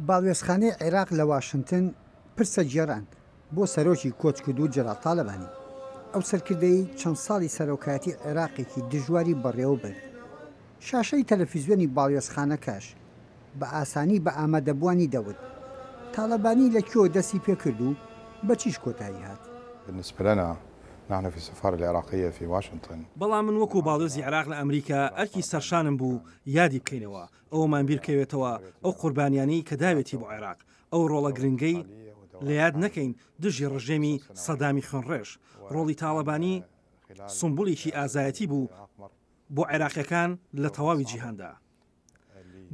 باڵوێزخانەی عێراق لە واشنتن پرسە گێڕان بۆ سەرۆکی کۆچکردوو جەلال تاڵەبانی. ئەو سەرکردەی چەند ساڵی سەرۆکایەتی عێراقێکی دژواری بەڕێوە برد. شاشەی تەلەفیزیۆنی باڵوێزخانەکەش بە ئاسانی بە ئامادەبووانی دەوت، تاڵەبانی لە کوێوە دەستی پێ کرد و بە چیش کۆتایی هات؟ بالنسبة لنا، نحن في السفارة العراقية في واشنطن. بەڵام من وەکو باڵوێزی عێراق لە ئەمریکا ئەرکی سەرشانم بوو یادی بکەینەوە، ئەوەمان بیرکەوێتەوە ئەو قوربانیانەی کە داوێتی بۆ عێراق، ئەو ڕۆڵە گرنگەی لە یاد نەکەین دژی ڕژێمی سەدامی خوێنڕێژ، ڕۆڵی تاڵەبانی سومبوڵێکی ئازایەتی بوو بۆ عێراقیەکان لە تەواوی جیهاندا.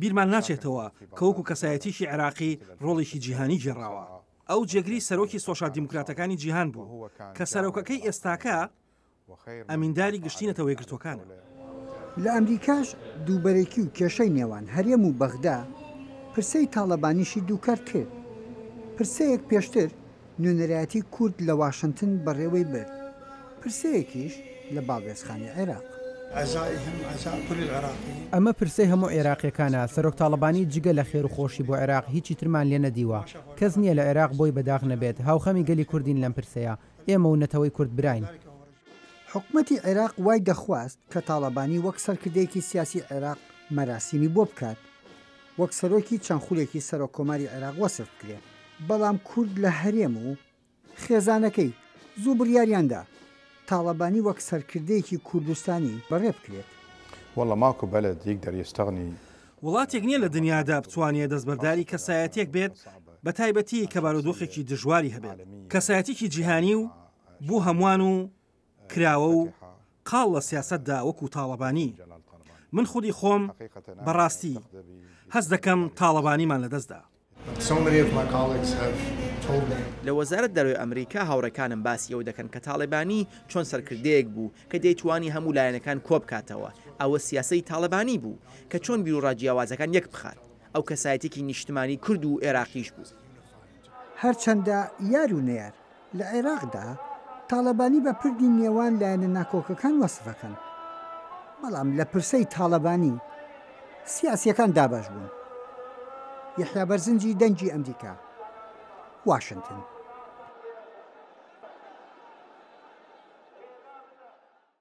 بیرمان ناچێتەوە کە وەکو کەسایەتیەکی عێراقی ڕۆڵێکی جیهانی گێڕاوە. ئەو جێگری سەرۆکی سۆشیال دیموکراتەکانی جیهان بوو کە سەرۆکەکەی ئێستاکە ئەمینداری گشتی نەتەوە یەکگرتووەکانە. لە ئەمریکاش دووبەرەکی و کێشەی نێوان هەرێم و بەغدا پرسەی تاڵەبانیشی دووکەرت کرد. پرسەیەک پێشتر نوێنەرایەتی کورد لە واشنتن بەڕێوەی برد، پرسەیەکیش لە باڵوێزخانەی عێراق. ئەمە پرسەی هەموو عێراقییەکانە، سەرۆک تاڵەبانی جگە لە خێر و خۆشی بۆ عێراق هیچی ترمان لێ نەدیوە. کەس نییە لە عێراق بۆی بە داخ نەبێت. هاوخەمی گەلی کوردین لەم پرسەیە. ئێمە و نەتەوەی کورد براین. حکومەتی عێراق وای دەخواست کە تاڵەبانی وەک سەرکردەیەکی سیاسی عێراق مەراسیمی بۆ بکات وەک سەرۆکی چەند خولێکی سەرۆک کۆماری عێراق وەسف بکرێ بەڵام کورد لە هەرێم و خێزانەکەی زوو بڕیاریان دا تاڵەبانی وەک سەرکردەیەکی کوردستانی بەڕێ بکرێت. واللە ماکو بەلەد یکدەر یستغنی وڵاتێک نیە لە دنیادا بتوانێت دەستبەرداری کەسایەتێک بێت بە تایبەتی کە بارودۆخێکی دژواری هەبێت کەسایەتێکی جیهانی و بۆ هەمووان و کراوە و قاڵ لە سیاسەتدا وەکو تاڵەبانی من خودی خۆم بەڕاستی هەست دەکەم تاڵەبانیمان لەدەستدا. لە وەزارەت دەرەوەی ئەمریکا هاوڕێکانم باسی ئەوە دەکەن کە تاڵێبانی چۆن سەرکردەیەک بوو کە دەیتوانی هەموو لایەنەکان کۆبکاتەوە، ئەوە سیاسەتی تاڵەبانی بوو کە چۆن بیروڕا جیاوازەکان یەک بخات، ئەو کەسایەتیەکی نیشتمانی کورد و ئێراقیش بوو. هەرچەندە یار و نەیار لە عێراقدا تاڵەبانی بە پردی نێوان لایەنە ناکۆکەکان وەسف ئەکەن، بەڵام لە پرسەی تاڵەبانی سیاسییەکان دابەش بوون. یەحیا بەرزنجی دەنگی ئەمریکا، واشنتن.